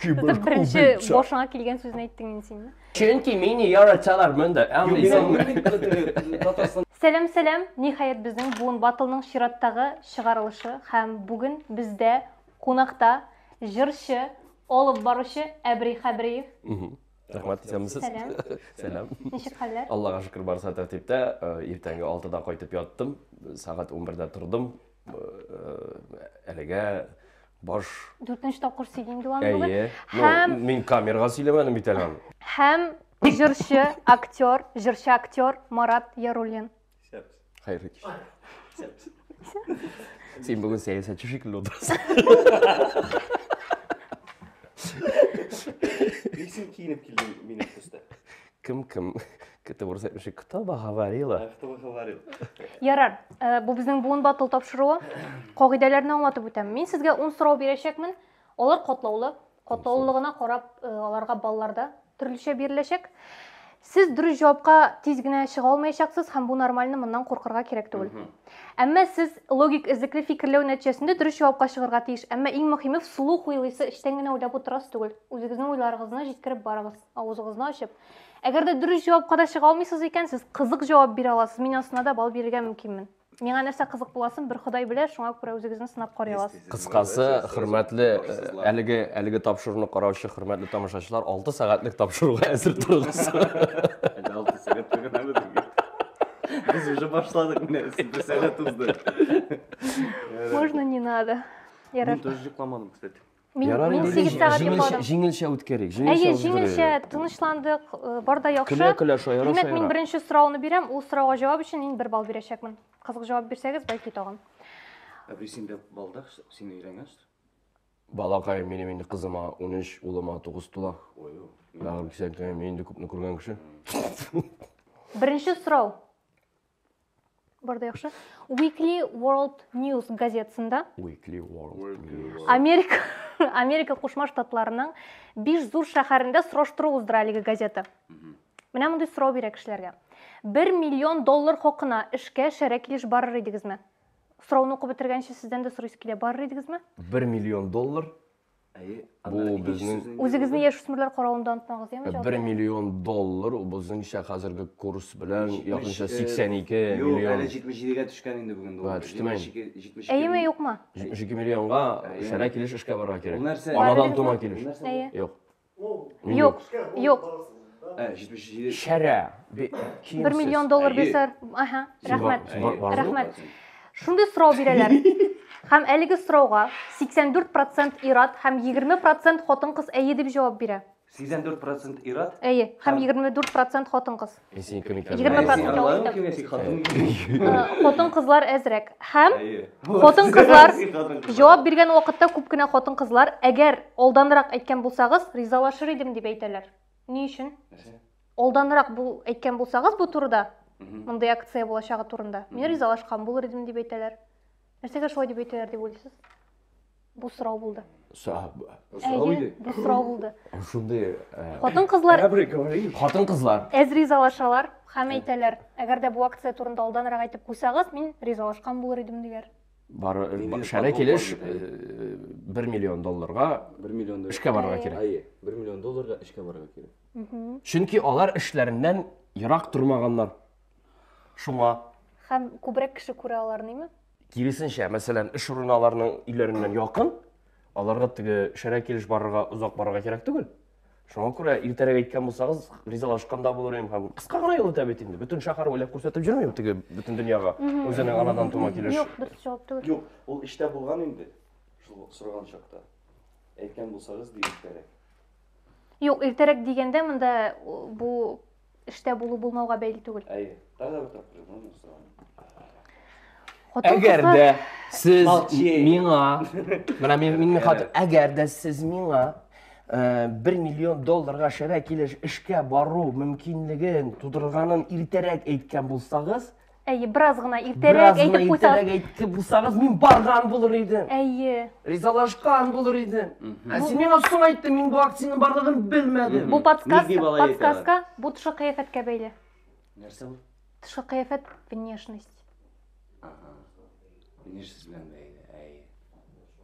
Киборг Беренче убийца. башыңа килгән сүзне әйттең инде син. Чөнки мине яраталар монда. Татарстан Сәлам, сәлам. Ниһаять безнең Буын Батлның чираттагы чыгарылышы һәм бүген бездә кунакта җырчы, алып баручы Әбри Хәбриев. Рәхмәт итәм сез. Сәлам. Сәлам. Ничек хәлләр? Аллага шөкер барса тәртиптә. Иртәнге 6да кайтып яттым. Сәгать 11дә тордым. әлегә баш дүртенче тапкыр сөйлим диван бүген әйе һәм мин камерага сөйләмәдем бит әле аны һәм җырчы актер җырчы актер марат яруллин хәерле кич син бүген сәясәтче шикелле утырасың ник син киенеп килдең минем төстә Кем кем? Кете урыс әйтмеши. Кто бы говорила? А кто бы говорил? Ярар, э, бу безнең буын батыл тапшыруы. Кагыйдәләрне аңлатып үтәм. Мин сезгә 10 сорау бирәчәкмен. Алар катлаулы. Катлаулылыгына карап, э, аларга балларда төрлечә биреләчәк. Сез дөрес җавапка тиз генә чыга алмаячаксыз һәм бу нормально, моннан куркырга кирәк түгел. Әмма сез логик эзлекле фикерләү нәтиҗәсендә дөрес җавапка чыгарга тиеш. Әмма иң мөһиме, вслух уйлыйсы, эчтән генә уйлап утырасы түгел. Үзегезнең уйларыгызны җиткереп барыгыз. Авызыгызны ачып. Әгәр дә дөрес җавапка да чыга алмыйсыз икән, сез кызык җавап бирә аласыз. Мин астына да бал бирергә мөмкинмен. Миңа нәрсә кызык буласын бер Ходай белә, шуңа күрә үзегезне сынап карый аласыз. Кыскасы, хөрмәтле э, әлеге әлеге тапшыруны караучы хөрмәтле тамашачылар, 6 сәгатьлек тапшыруга әзер торыгыз. Әле алты сәгать төгәнәме дигән. Без уже башладык менә, сез бер сәгать узды. Можно не надо. Мин Ярар. тоже йокламадым, кстати. Мин, Ярар, мин инде 8 җи- сәгать җиңелчә- йокладым. Җиңелчә үткәрик. Җиңелчә Әйе, үткәрик. җиңелчә тынычландык, э, бар да яхшы. Көлә көлә шаяра Димәк, мин шаяра. беренче сорауны бирәм, ул сорауга җавап өчен мин бер балл бирәчәкмен. Кызык җавап бирсәгез, бәлки тагын. Әби син дә балдак, син өйрәнгәч. Балакаем минем инде кызыма 13, улыма 9 тула. Ой, ой. Бәгырем кисәк, мин инде күпне күргән кеше. Беренче сорау. Бар да яхшы. Weekly World News газетасында Weekly World News. Америка Америка Кушма Штатларының биш зур шәһәрендә сораштыру уздыра әлеге газета. Менә мондый сорау бирә кешеләргә. 1 миллион доллар хакына эшкә шәрә килеш барыр идегезме? Сорауны укып бетергәнче сездән дә сорыйсы килә, барыр идегезме? 1 миллион доллар Бу безнең... Үзегезне яшүсмерләр каравында онытмагыз, яме җал. 1 миллион доллар, ул безнеңчә хәзерге курс белән якынча 82 миллион. Юк, әле 77 гә төшкән инде бүген доллар. Төштеме? 72. Әйеме, юкмы? 72 миллионга шәрә килеш эшкә барырга кирәк. Анадан тума килеш. Юк. Юк, юк. Ә, 77 Шәрә. бе- киемсез. Бер миллион доллар Әйе. бирсәләр, аһа, Син рәхмәт, бар- бар- бар- рәхмәт. бар- Шундый сорау бирәләр. Һәм әлеге сорауга 84% ир-ат һәм 20% хатын-кыз әйе дип җавап бирә. 84% ир-ат. Әйе, һәм Һәм- 24% хатын-кыз. Мин синең кем икәнен Егерме белмим. процент. Аналарың кем, син хатын кем? Хатын кызлар әзрәк. Һәм Әйе. Хатын кызлар Син хатын кызлар. җавап биргән вакытта күп кенә хатын кызлар, әгәр алданрак әйткән булсагыз, ризалашыр идем дип әйтәләр. Ни өчен? Нәрсә? Алданрак бу әйткән булсагыз бу турыда, Мгм. мондый акция булачагы турында, мин Мгм. ризалашкан булыр идем дип әйтәләр. Нәрсәгә шулай дип әйтәләр дип уйлыйсыз? Бу сорау булды. Сорау иде. Бу сорау булды. Шундый хатын-кызлар хатын-кызлар әз ризалашалар һәм әйтәләр, әгәр дә бу акция турында алданрак әйтеп куйсагыз, мин ризалашкан булыр идем диләр. Бар шәрә килеш 1 миллион долларга 1 миллион доллар эшкә барырга кирәк. Әйе, 1 миллион долларга эшкә барырга кирәк. Чөнки алар эшләреннән ерак тормаганнар. Шуңа. Һәм күбрәк кеше күрә аларны, имма. Киресенчә, мәсәлән, эш урыны аларның өйләреннән якын, аларга теге шәрә килеш барырга, озак барырга кирәк түгел. Шуңа күрә иртәрәк әйткән булсагыз, ризалашкан да булыр идем һәм кыска гына юл итә бит инде. Бөтен шәһәр уйлап күрсәтеп йөрмим теге бөтен дөньяга. Үзенең анадан тума килеш. Юк, дөрес җавап түгел. Юк, ул эштә булган инде. Шул сораган чакта. Әйткән булсагыз, ди иртәрәк. Юк, иртәрәк дигәндә монда бу эштә булу-булмауга бәйле түгел. Әйе. Тагы бер тапкыр язам сорауны. Әгәр дә сез миңа, менә мин мин хатып, әгәр дә сез миңа 1 э, миллион долларга шәрә килеш эшкә бару мөмкинлеген тудырганын иртәрәк әйткән булсагыз, Әйе, бераз гына иртәрәк әйтеп куйсагыз. Бераз әйтеп булсагыз, мин барган булыр идем. Әйе. Ризалашкан булыр идем. Ә син миңа соң әйттең, мин бу акциянең барлыгын белмәдем. Бу подсказка, подсказка, бу тышкы кыяфәткә бәйле. Нәрсә бу? Тышкы кыяфәт, внешность. Ага. Внешность белән бәйле. Әйе.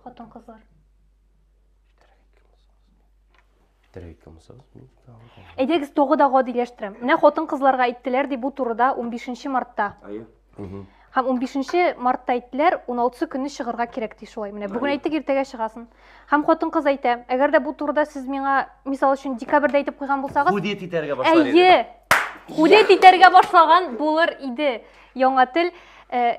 Хатын-кызлар. Терәйкә мусыз. Әйдәгез тогы да гадиләштерәм. Менә хатын кызларга әйттеләр ди бу турыда 15 мартта. Ая. Һәм 15 мартта әйттеләр, 16 көнне чыгарга кирәк ди шулай. Менә бүген әйттек, иртәгә чыгасын. Һәм хатын кыз әйтә, әгәр дә бу турыда сез миңа, мисал өчен, декабрьдә әйтеп куйган булсагыз, Худет итәргә башлар иде. Әйе. Худет итәргә башлаган булыр иде. Яңа тел э,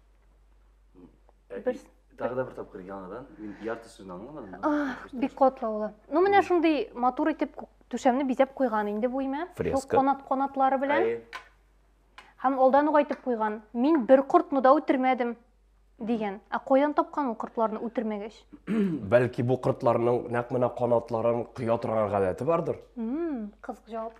Бер... Тағы да бер тапкыр яңадан, мин ярты сүзін аңламадым. А, бик катлаулы. Ну, менә шундый матур итеп түшәмне бизәп куйган инде бу имә. Фреска. Канат канатлары белән. Һәм алдан ук айтып куйган, мин бер кортны да үтермәдем дигән. Ә каян тапкан ул кортларны үтермәгәч? Бәлки бу кортларның нәкъ менә канатларын коя торган гадәте бардыр? Мм, кызык җавап.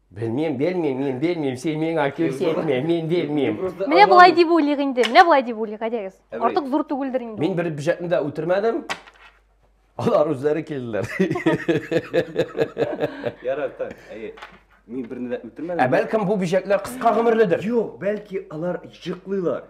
Белмим, белмим, мин белмим, син миңа күрсәтмә, мин белмим. Менә болай дип уйлыйк инде, менә болай дип уйлыйк, әйдәгез. Артык зур түгелдер инде. Мин бер бюджетны да үтермәдем. Алар үзләре килделәр. Ярар, так, әйе. Мин берне дә үтермәдем. Ә бәлкем бу бөҗәкләр кыска гомерледер? Юк, бәлки алар җыклыйлар.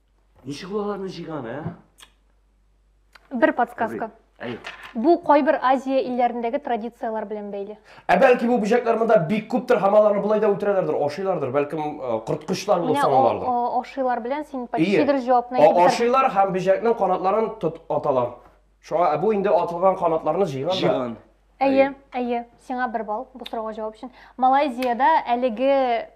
Ничек ул аларны җыйганы, ә? Бер подсказка. Әй. Бу кайбер Азия илләрендәге традицияләр белән бәйле. Ә бәлки бу бөҗәкләр монда бик күптер һәм аларны болай да үтерәләрдер, ашыйлардыр, бәлкем э, корткычлар булып саналардыр. Менә ашыйлар белән син почти дөрес җавапны әйтеп Ашыйлар һәм бөҗәкнең канатларын тот аталар. Шуңа, ә бу инде атылган канатларны җыйган да. Җыйган. Әйе, әйе. Сиңа бер балл бу сорауга җавап өчен. Малайзиядә әлеге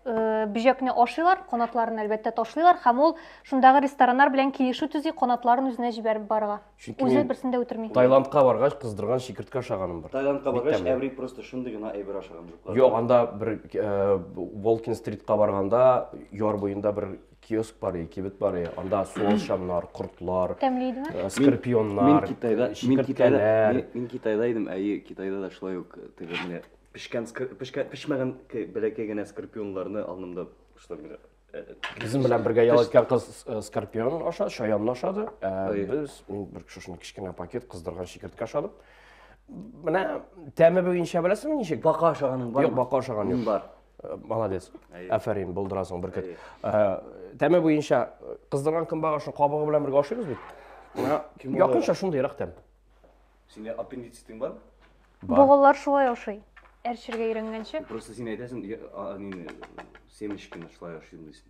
э, бөҗәкне ашыйлар, канатларын әлбәттә ташлыйлар һәм ул шундагы рестораннар белән килешү төзи, канатларын үзенә җибәреп барырга. Чөнки Үзе мин берсен дә үтерми. Таиландка баргач, кыздырган чикерткә ашаганым бар. Таиландка Бик баргач, тәмле. әбри просто шундый гына әйбер ашаган жуклар. Юк, анда бер э, Волкин стритка барганда, яр буенда бер киоск бар и кибет бар и анда суалчаннар кортлар тәмле идеме э, скорпионнар мин китайда мин китайда мин китайда идем әйе китайда да шулай ук э, теге менә пешкән пешкән пешмәгән бәләкәй генә скорпионнарны алдымда шулай менә э, Безнең белән бергә ял иткән кыз скорпион аша, шаянны ашады. Без мин бер шушыны кечкенә пакет кыздырган шикертке ашадым. Менә тәме буенча беләсеңме ничек? Бака ашаганың бар. Юк, бака ашаган юк. Бар. Молодец. Афәрин, булдырасың бер кет. Тәме буенча кыздырган көнбагышны кабыгы белән бергә ашыйбыз бит. Якынча шундый рак тәм. Сине аппендицитың бар? Богаллар шулай ашый. Әрчергә өйрәнгәнче. Просто син әйтәсең, семечкины шулай ашыйм дисең.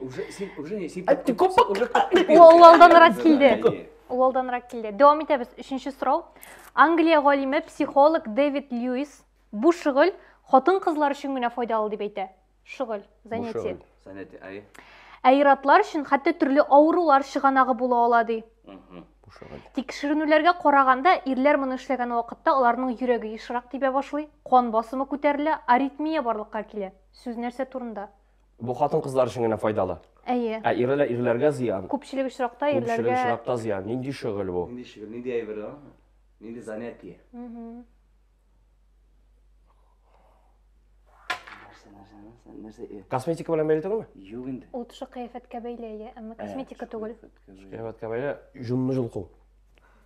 Уже син уже не син. Ул алданрак килде. Ул алданрак килде. Дәвам итәбез. Өченче сорау. Англия галиме психолог Дэвид Льюис бу шөгыль хатын-кызлар өчен генә файдалы дип әйтә. Шөгыль, занятие. Занятие, ай. Ә иратлар өчен хәтта төрле авырулар чыганагы була ала ди. Тикшеренүләргә караганда, ирләр моны эшләгән вакытта аларның йөрәге ешрак тибә башлый, кан басымы күтәрелә, аритмия барлыкка килә. Сүз нәрсә турында? Бу хатын-кызлар өчен генә файдалы. Әйе. Ә ирләр ирләргә зыян. Күпчелек очракта ирләргә Күпчелек очракта зыян. Нинди шөгыль бу? Нинди шөгыль, нинди әйбер ул? Нинди занятие? Нәрсә, нәрсә, нәрсә, нәрсә? э, Косметика белән бәйле түгелме? Юк инде. Ул төшек кыяфәткә бәйле, әйе, әмма косметика түгел. Кыяфәткә бәйле җонны җолку.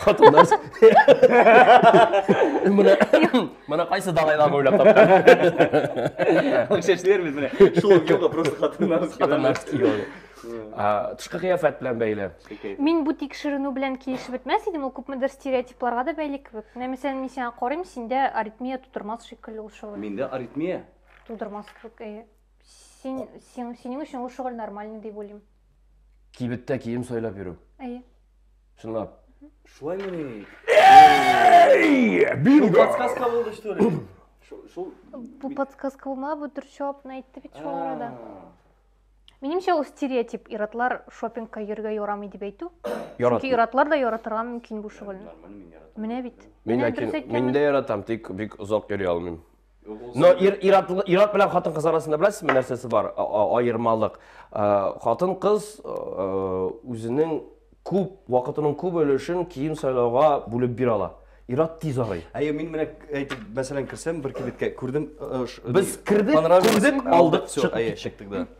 Хатын нәрс. Менә менә кайсы далайлар уйлап тапкан. Шәшләр бит менә. Шул юлга просто хатын нәрс. Хатын нәрс тышкы кыяфәт белән бәйле мин бу тикшеренү белән килешеп бетмәс идем ул күпмедер стереотипларга да бәйле кебек менә мәсәлән мин сиңа карыйм синдә аритмия тудырмас шикелле ул шөгыль миндә аритмия тудырмас кебек әйе син синең өчен ул шөгыль нормальный дип уйлыйм Кибеттә кием сайлап йөрү. Әйе. Чынлап. Шулай мени? Бинго! Подсказка булды что ли? Шул Бу подсказка булма, бу дөрес җавапны әйтте бит шул арада. Минемчә ул стереотип, иратлар шопингка йөргә ярамый дип әйтү. Ярат. Чөнки иратлар да яратырга мөмкин бу шөгыльне. Менә бит. Мин ләкин мин дә яратам, тик бик озак йөри алмыйм. Но ир ират ират белән хатын кыз арасында беләсезме нәрсәсе бар аермалык? Хатын кыз үзенең күп вакытының күп өлешен кием сайлауга бүлеп бир ала. Ират тиз арый. Әйе, мин менә әйтеп, мәсәлән, керсәм бер кибеткә, күрдем, без кердек, күрдек, алдык, чыктык, чыктык да.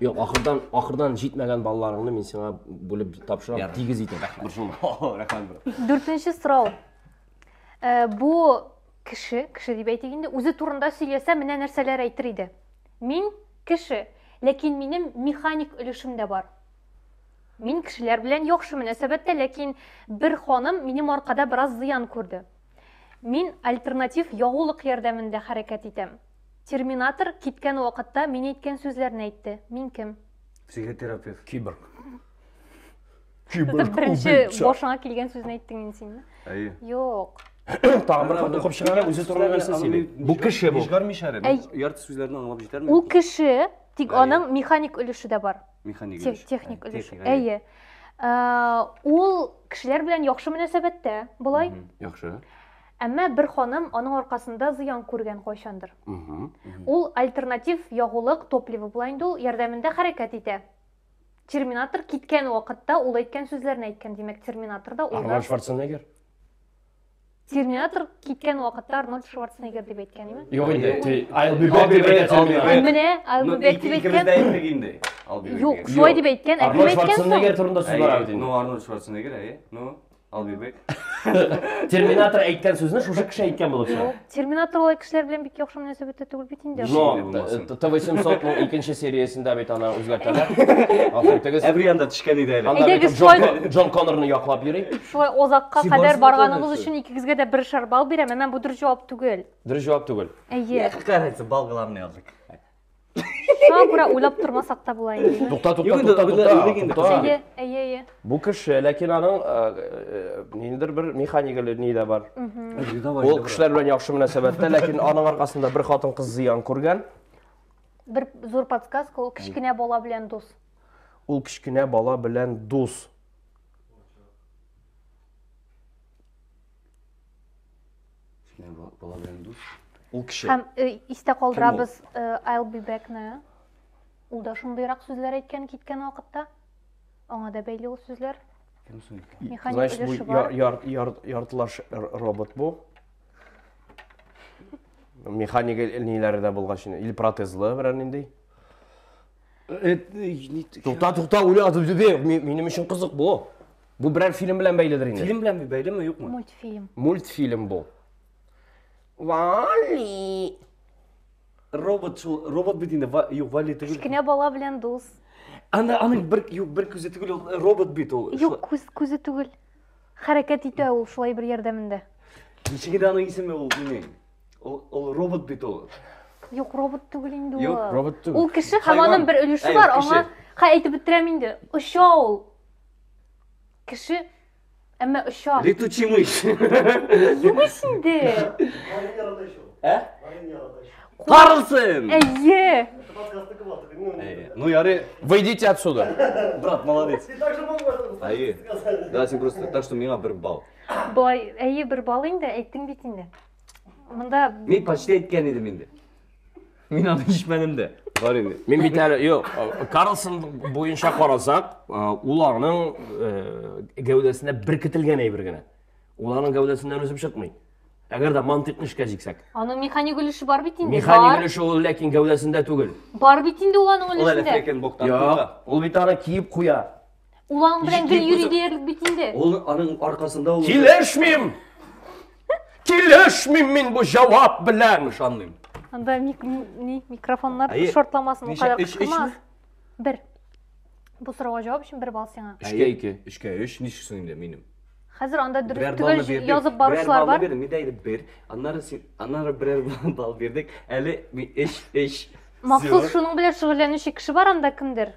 Юк, ахырдан, ахырдан җитмәгән балаларыңны мин сиңа бүлеп тапшырам, Ярар. тигез итеп. Рәхмәт. Борчылма. О, Рәхмәт, брат. Дүртенче сорау. Э, Бу кеше, кеше дип әйтик инде, үзе турында сөйләсә, менә нәрсәләр әйтер иде. Мин кеше, ләкин минем механик өлешем дә бар. Мин кешеләр белән яхшы мөнәсәбәттә, ләкин бер ханым минем аркада бераз зыян күрде. Мин альтернатив ягулык ярдәмендә хәрәкәт итәм. Терминатор киткән вакытта мин әйткән сүзләрне әйтте. Мин кем? Психотерапевт. Киборг. Киборг Беренче убийца. башыңа килгән сүзне әйттең инде син. Әйе. Юк. Тагын бер хат укып чыгарга үзе турында нәрсә сөйли. Бу кеше бу. Җигармыйча әле. Әй. Ярты сүзләрне аңлап җитәрме? Ул кеше, тик Әйе. аның механик өлеше дә бар. Механик Тех- өлеше. Техник Әйе, өлеше. техник, Әйе. Ә, Ул кешеләр белән яхшы мөнәсәбәттә, болай. Яхшы. Әмма бер ханым аның аркасында зыян күргән кайчандыр. Ул альтернатив ягулык топливо була инде ул, ярдәмендә хәрәкәт итә. Терминатор киткән вакытта ул әйткән сүзләрне әйткән, димәк, терминатор да ул да. Арнольд Шварценеггер. Терминатор киткән вакытта Арнольд Шварценеггер дип әйткән име? Юк инде, ти, I'll be back дип әйтә Терминатор. Менә I'll be back дип Икебез дә әйткән. әйттек инде. I'll be back. Юк, шулай дип әйткән, ә кем Арнольд әйткән соң? Шварценеггер турында сүз бара бит Әйе, инде. ну Арнольд Шварценеггер, әйе, ну. I'll be back. Терминатор әйткән сүзне шушы кеше әйткән булып чыга. Терминатор алай кешеләр белән бик яхшы мөнәсәбәттә түгел бит инде. Но Т800 ның икенче сериясендә бит аны үзгәртәләр. Афин тегез. Әбри анда төшкән иде әле. Анда бит Джон, Джон Коннорны яклап йөри. Шулай озакка кадәр барганыгыз өчен икегезгә дә бер шар бал бирәм, әмма бу дөрес җавап түгел. Дөрес җавап түгел. Әйе. Какая разница, балгыларны яздык. Шуңа күрә уйлап тормасак та була инде. Тукта, тукта, тукта, тукта. Әйе, әйе, әйе. Бу кеше, ләкин аның ниндидер бер механика ни дә бар. Ул кешеләр белән яхшы мөнәсәбәттә, ләкин аның аркасында бер хатын кыз зыян күргән. Бер зур подсказка, ул кечкенә бала белән дус. Ул кечкенә бала белән дус. Ул кеше. Һәм э, истә калдырабыз э, I'll be back-ны. Ул да шундыйрак сүзләр әйткән киткән вакытта. Аңа да бәйле ул сүзләр. Кем соң? Механик өлеше бар. Яртылаш робот бу. Механик ниләре дә булгач, или протезлы берәр нинди. Тукта, тукта, уйлады, минем өчен кызык бу. Бу берәр фильм белән бәйледер инде. Фильм белән бәйлеме, юкмы? Мультфильм. Мультфильм бу. Вали. Робот шул, робот бит инде, юк, Вали түгел. Кечкенә бала белән дус. Аны аның бер юк, бер күзе түгел, ул робот бит ул. Юк, күз күзе түгел. Хәрәкәт итә ул шулай бер ярдәмендә. Ничек инде аның исеме ул минем? Ул, ул робот бит ул. Юк, робот түгел инде ул. Юк, робот түгел. Ул кеше һәм аның бер өлеше бар, аңа. Хә, әйтеп бетерәм инде. Оча ул. Кеше әмма оча. Летучий мышь. Юмыш инде. Ә? Карлсон! Әйе. Ну, яры, выйдите отсюда. Брат, молодец. Әйе. Да, син просто, так что миңа бер бал. Былай, әйе, бер бал инде, әйттең бит инде. Мында... Мин почти әйткән идем инде. Мин аны ишетмәдем дә. Бар инде. Мин бит әле юк. Карлсон буенча карасак, ул аның гәүдәсенә беркетелгән әйбер генә. Ул аның гәүдәсеннән үсеп чыкмый. Әгәр дә мантыйкны эшкә җиксәк. Аның механик өлеше бар бит инде. Механик өлеше ул ләкин гәүдәсендә түгел. Бар бит инде ул аның өлешендә. Ул әле фрекен боктан. Юк, ул бит аны киеп куя. Ул аның белән гел йөри диярлек бит инде. Ул аның аркасында ул. Килешмим! Килешмим мин бу җавап белән! Ышанмыйм. Анда микрофоннар шортламасын, ул кадәр кычкырмас. Бер. Бу сорауга җавап өчен бер балл сиңа. Өчкә ике. Өчкә өч. Ничексең инде минем? Хәзер анда дөрес түгел язып баручылар бар. Берәр балл бирдек, әйтеп бер. Аннары син, аннары берәр балл бирдек. Әле эш, эш. Махсус шуның белән шөгыльләнүче кеше бар анда кемдер?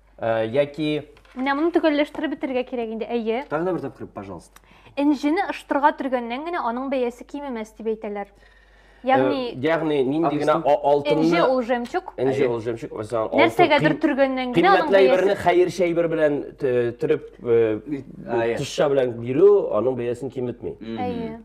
Э, яки Менә моны төгәлләштереп бетергә кирәк инде, әйе. Тагы да бер тапкыр, пожалуйста. Энҗене ыштырга төргәннән генә аның бәясе кимемәс дип әйтәләр. Э, ягъни ягъни нинди генә алтынны энҗе ул җәмчук энҗе ул җәмчук мәсәлән алтын нәрсәгәдер төргәннән генә аның кыйммәтле әйберне хәерче әйбер белән төреп э, тышча белән бирү аның бәясен киметми әйе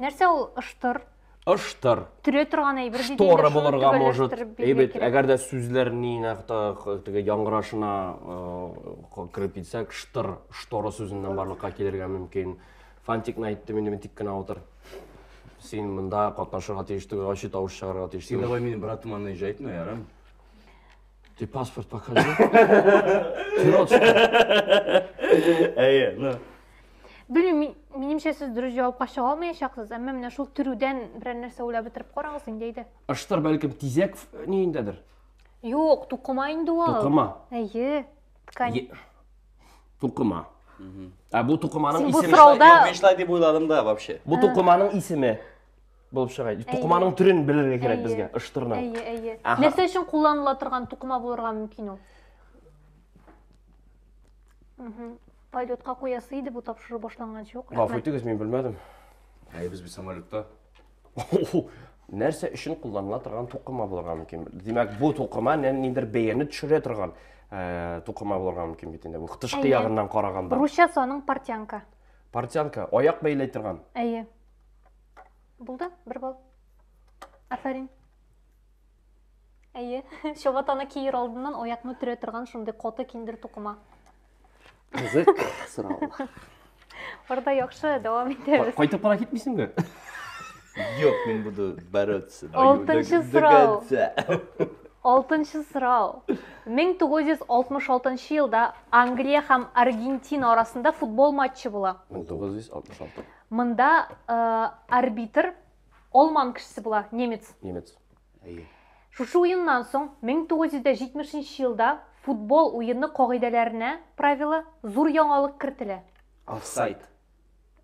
нәрсә ул ыштыр ыштыр төрә торган әйбер диде шторы инде, шуны булырга может төгәлләштереп бирергә әйбет кирәк. әгәр дә сүзләр нинәк та теге яңгырашына э, кереп китсәк штыр шторы сүзеннән барлыкка килергә мөмкин фантикны әйттем инде мин тик кенә утыр син монда катнашырга тиеш түгел ачы тавыш чыгарырга тиеш Ты түгел давай мені братом она езжает, наверное. Ты паспорт покажи. Әйе, ну. Белмим, минемчә сез дөрес җавапка чыга алмаячаксыз, әмма менә шул төрүдән берәр нәрсә уйлап бетереп карагыз инде әйдә. Ыштыр бәлкем тизәк ниендәдер. Юк, тукыма инде ул. Тукыма. Әйе. Ткань. Тукыма. Ә бу тукыманың исеме. Син бу срауда... Юк, мин шулай дип уйладым да вообще. Бу тукыманың исеме. булып чыга тукыманың төрен белергә кирәк безгә ыштырны әйе әйе нәрсә өчен кулланыла торган тукыма булырга мөмкин ул полетка куясы иде бу тапшыру башланганчы юк гафу итегез мин белмәдем әйе без бит самолетта нәрсә өчен кулланыла торган тукыма булырга мөмкин димәк бу тукыма ниндидер бәяне төшерә торган тукыма булырга мөмкин бит инде бу тышкы ягыннан караганда русчасы аның портянка портянка аяк бәйләй торган әйе Булды, бер бал. Афәрин. Әйе, чабатаны киер алдыннан аякны төрә торган шундый коты киндер тукыма. Кызык сорау. Барда яхшы, дәвам итәбез. Кайтып кала китмисеңме? Юк, мин буду бороться. Алтынчы сорау. Алтынчы сорау. 1966 елда Англия һәм Аргентина арасында футбол матчы була. 1966. Монда арбитр алман кешесе була, немец. Немец. Әйе. Шушы уеннан соң 1970 елда футбол уены кагыйдәләренә правила зур яңалык кертелә. Офсайд.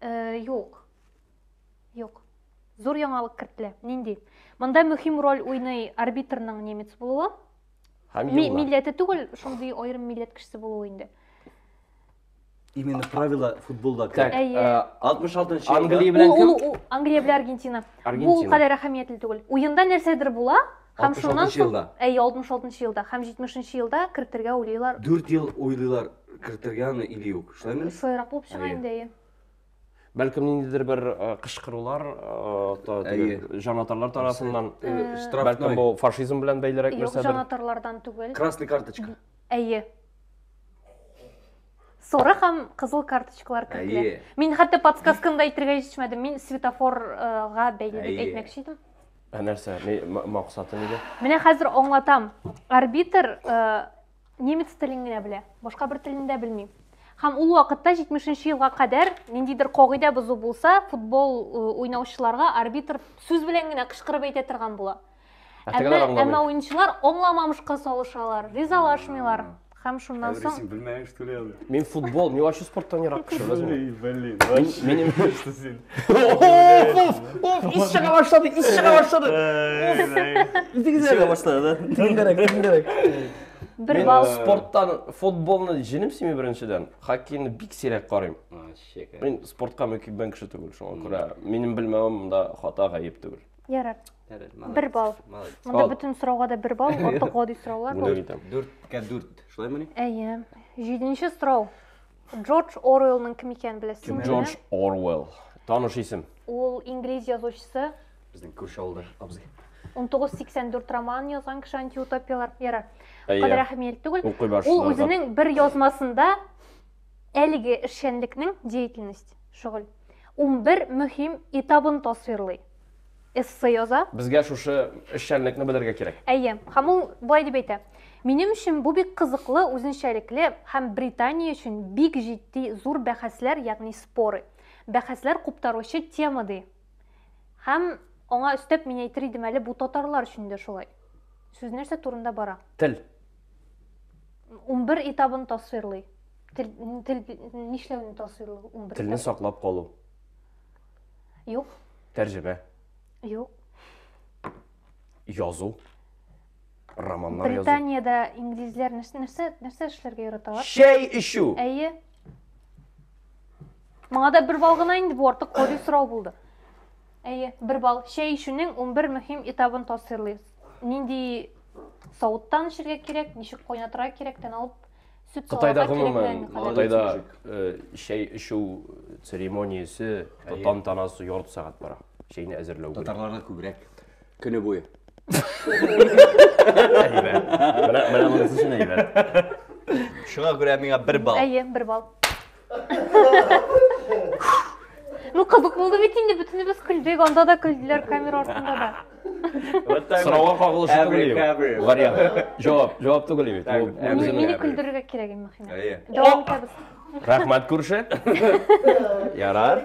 Э, юк. Юк. Зур яңалык кертелә. Нинди? Монда мөһим роль уйный арбитрның немец булуы. Һәм Милләте түгел, шундый аерым милләт кешесе булуы инде. Именно правила футболда. Так, Әйе. э, 66 нчы Англия Ул, белән ул, кем? ул, Англия белән Аргентина. Бу ул Аргентина. кадәр әһәмиятле түгел. Уенда нәрсәдер була, һәм шуннан 66 соң, елда. әйе, 66 елда һәм 70 елда кертергә уйлыйлар. 4 ел уйлыйлар кертергә аны или юк. Шулаймы? Сойрак булып чыга Әйе. инде, әйе. Бәлкем ниндидер бер э, кычкырулар, э, та- теге, Әйе. җанатарлар тарафыннан. Э, Э, Бәлкем Штрафной. бу фашизм белән бәйлерәк Юк, нәрсәдер. җанатарлардан түгел. Красный карточка. Әйе. Соры һәм кызыл карточкалар кертелә. Әйе. Мин хәтта подсказканы да әйтергә җитешмәдем. Мин светофорга бәйле дип әйтмәкче идем. Ә нәрсә? Максаты нидә? Менә хәзер аңлатам. Арбитр э, немец телен генә белә. Башка бер телен дә белми. Һәм ул вакытта 70 елга кадәр ниндидер кагыйдә бозу булса, футбол э, уйнаучыларга арбитр сүз белән генә кычкырып әйтә торган була. Әмма, әмма уенчылар аңламамышка салышалар, ризалашмыйлар. Һәм шуннан соң... Син белмәйең, что ли, аны? Мин футбол, мин вообще спорттан ерак кеше, белмейм. Блин, вообще. Минем... Что син? Оф, оф, ис чыга башлады, ис чыга башлады. Ис чыга башлады, да? Тиңдерек, тиңдерек. Бер бал. Спорттан футболны җинем сими беренчедән. Хоккейны бик сирәк карыйм. Мин спортка мөкиббән кеше түгел, шуңа күрә минем белмәвем монда хата гаеп түгел. Ярар. бер балл монда бөтен сорауга да бер балл артык гади сораулар бар дүрткә дүрт шулаймыни әйе җиденче сорау джордж оруэллның кем икәнен беләсезме джордж оруэлл таныш исем ул инглиз язучысы безнең күрше авылда абзый 1984 роман язган кеше антиутопиялар ярар кадәр әһәмият түгел ул үзенең бер язмасында әлеге эшчәнлекнең деятельность шөгыль 11 мөһим этабын тасвирлый эссе яза. Безгә шушы эшчәнлекне белергә кирәк. Әйе. Һәм ул болай дип әйтә. Минем өчен бу бик кызыклы, үзенчәлекле һәм Британия өчен бик җитди зур бәхәсләр, ягъни споры, бәхәсләр куптаручы тема, ди. Һәм аңа өстәп мин әйтер идем әле, бу татарлар өчен дә шулай. Сүз нәрсә турында бара? Тел. Унбер этабын тасвирлый. Тел, тел нишләүне тасвирлый унбер Телне этабы. саклап калу. Юк. Тәрҗемә. Юк. Язу. Романнар язу. Британиядә инглизләр нәрсә нәрсә эшләргә яраталар? Чәй эчү. Әйе. Моңа да бер бал гына инде бу артык кори сорау булды. Әйе, бер бал. Чәй эчүнең 11 мөһим этабын тасвирлыйбыз. Нинди савыттан эчәргә кирәк, ничек кайнатырга кирәктән алып Кытайда гомумән, Кытайда чәй эчү церемониясе, тантанасы ярты сәгать бара. Чәйне әзерләү. Татарларда күбрәк көне буе. Менә монысы өчен әйбәт. Шуңа күрә миңа бер балл. Әйе, бер балл. Ну, кызык булды бит инде, бөтенебез күлдек, анда да күлделәр, камера артында да. Сорауга кагылышы түгел. Вариант. Җавап, җавап түгел бит. Мине күлдерергә кирәк инде, Махина. Дәвам итәбез. Рәхмәт күрше. Ярар.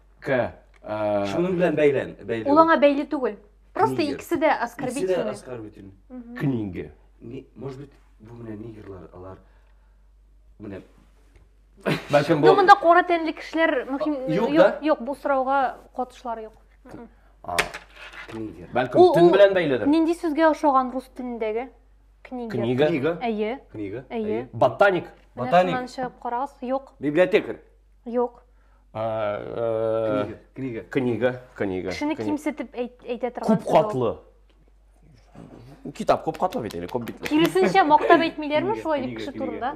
К. Э, Шуның белән бәйлән, бәйле. Ул аңа бәйле түгел. Просто Книга. икесе дә оскорбительный. Икесе дә оскорбительный. Книга. Не, может быть, бу менә нигерлар, алар менә Бәлкем бу Юк, монда кара тәнле кешеләр мөһим юк, да? юк, бу сорауга катышлары юк. А, книга. Бәлкем төн белән бәйледер. Нинди сүзгә ошаган рус телендәге? Книга. Книга. Книга. Әйе. Книга. Әйе. Ботаник. Ботаник. Шуннан чыгып карагыз, юк. Библиотекарь. Юк. Э, книга. Книга. Книга. Кешене кимсетеп әйтә торган. Күп катлы. Китап күп катлы бит әле, күп бит. Киресенчә мактап әйтмиләрме шулай дип кеше турында?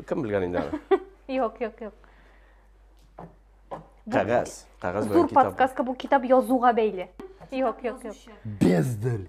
Кем белгән инде аны? Юк, юк, юк. Кәгазь, кәгазь белән китап. Зур подсказка бу китап язуга бәйле. Юк, юк, юк. Бездел.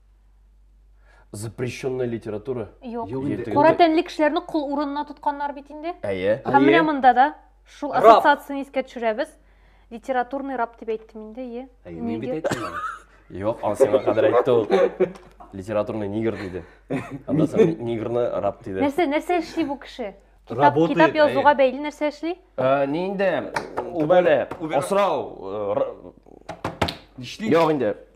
Запрещенная литература? Юк. Юк инде. Юк. Кара тәнле кешеләрне кул урынына тотканнар бит инде. Әйе. Һәм менә монда да шул Раб. ассоциацияне искә төшерәбез. Литературный раб дип әйттем инде, е. Әйе, мин бит Нигер. әйттем. Юк, аны сиңа кадәр әйтте ул. Литературный нигр диде. Аннан соң ни- нигрны раб диде. Нәрсә, нәрсә эшли бу кеше? Китап, Работает, китап язуга әйе. бәйле нәрсә эшли? Ә, Ни инде, ул бәле, Убер- асрау, э, р- Нишлим? юк инде.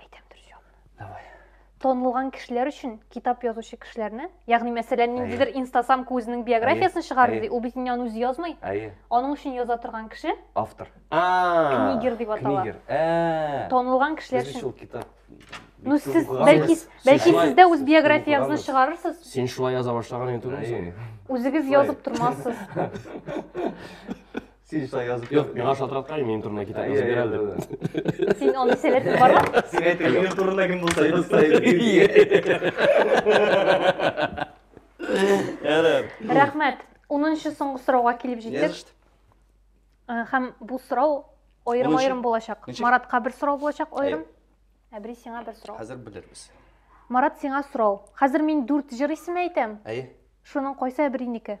әйтәм дөрес җавапны давай танылган кешеләр өчен китап язучы кешеләрне ягъни мәсәлән ниндидер инстасамка үзенең биографиясен чыгарды ди ул бит инде аны үзе язмый әйе аның өчен яза торган кеше автор книгер дип атала книгер ә. танылган кешеләр өчен шул китап Ну, сез, бәлки, бәлки сез дә үз биографияңызны чыгарырсыз. Син шулай яза башлаган инде түгелме? Үзегез язып тормассыз. Син шулай язып Юк, миңа шалтыраткай, минем турында китап язып бир әле дип. Син аны сәләтең бармы? Син әйтер, минем турында кем булса язса Рәхмәт. 10-нчы соңгы сорауга килеп җиттек. Э, һәм бу сорау аерым-аерым булачак. Маратка бер сорау булачак аерым. Әбри сиңа бер сорау. Хәзер белербез. Марат сиңа сорау. Хәзер мин 4 җыр исеме әйтәм. Әйе. Шуның кайсы әбринеке?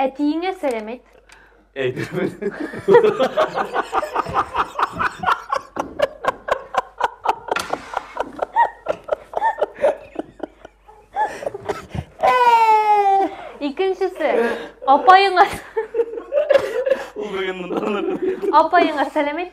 Әтиеңә сәлам әйт. Әйтермен. Икенчесе. Апаеңа. Ул бүген монда. Апаеңа сәлам әйт.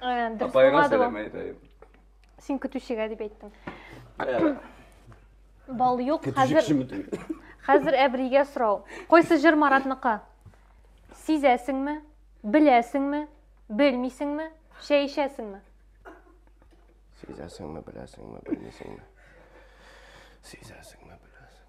апайга сәлам әйтәйем син көтүчегә дип әйттең бал юк хәзер хәзер әбригә сорау кайсы җыр маратныкы сизәсеңме беләсеңме белмисеңме чәй эчәсеңме сизәсеңме беләсеңме белмисеңме сизәсеңме беләсең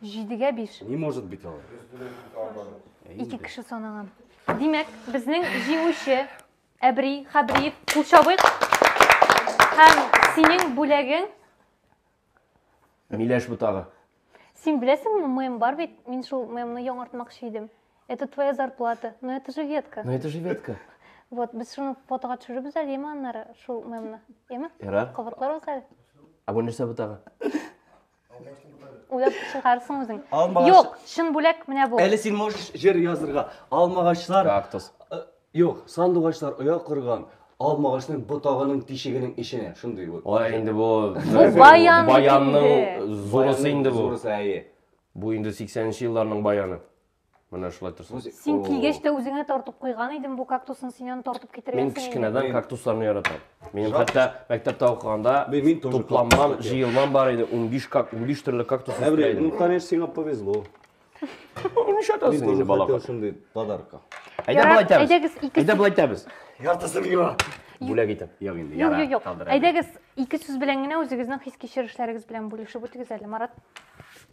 Җидегә биш. Не может быть ала. Ике кеше санаган. Димәк, безнең җиңүче Әбри Хәбриев кул чабыйк. Һәм синең бүләгең Миләш бутагы. Син беләсеңме, мем бар бит. Мин шул мемны яңартмакчы идем. Это твоя зарплата. Но это же ветка. Но это же ветка. Вот, без шуны фотога төшеребез әле, яме аннары шул мемны. Яме? Ярар. Кабатларбыз әле. Ә бу нәрсә бутагы? уйлап чыгарсың үзең юк чын бүләк менә бу әле син можешь җыр язырга алмагачлар кактус юк сандугачлар оя корган алмагачның ботагының тишегенең эченә шундый вот ой инде бу баян баянның зурысы инде бу зурысы әйе бу инде сиксәненче елларның баяны Менә шулай торсын. Үзе- Син О. килгәч тә үзеңә тартып куйган идем бу кактусны, син аны тартып Мин китергәнсең инде. кечкенәдән кактусларны яратам. Минем Жалко. хәтта мәктәптә укыганда Мин- мин тоже тупланмам, кактуслар җыелмам бар иде. 15 как 15 төрле кактус Әбрей, үстерә ну, идем. конечно, сиңа повезло. Ну, Мин Нишләтәсең тоже инде хотел балакай? шундый подарка. Әйдә Ярар, болай итәбез. әйдәгез, икесе- Әйдә болай итәбез. Яртысы миңа. Бүләк итәм. Юк инде, Юк, яра, юк, юк. калдыр әле. Әйдәгез, ике сүз белән генә үзегезнең хис-кичерешләрегез белән бүлешеп үтегез әле, Марат.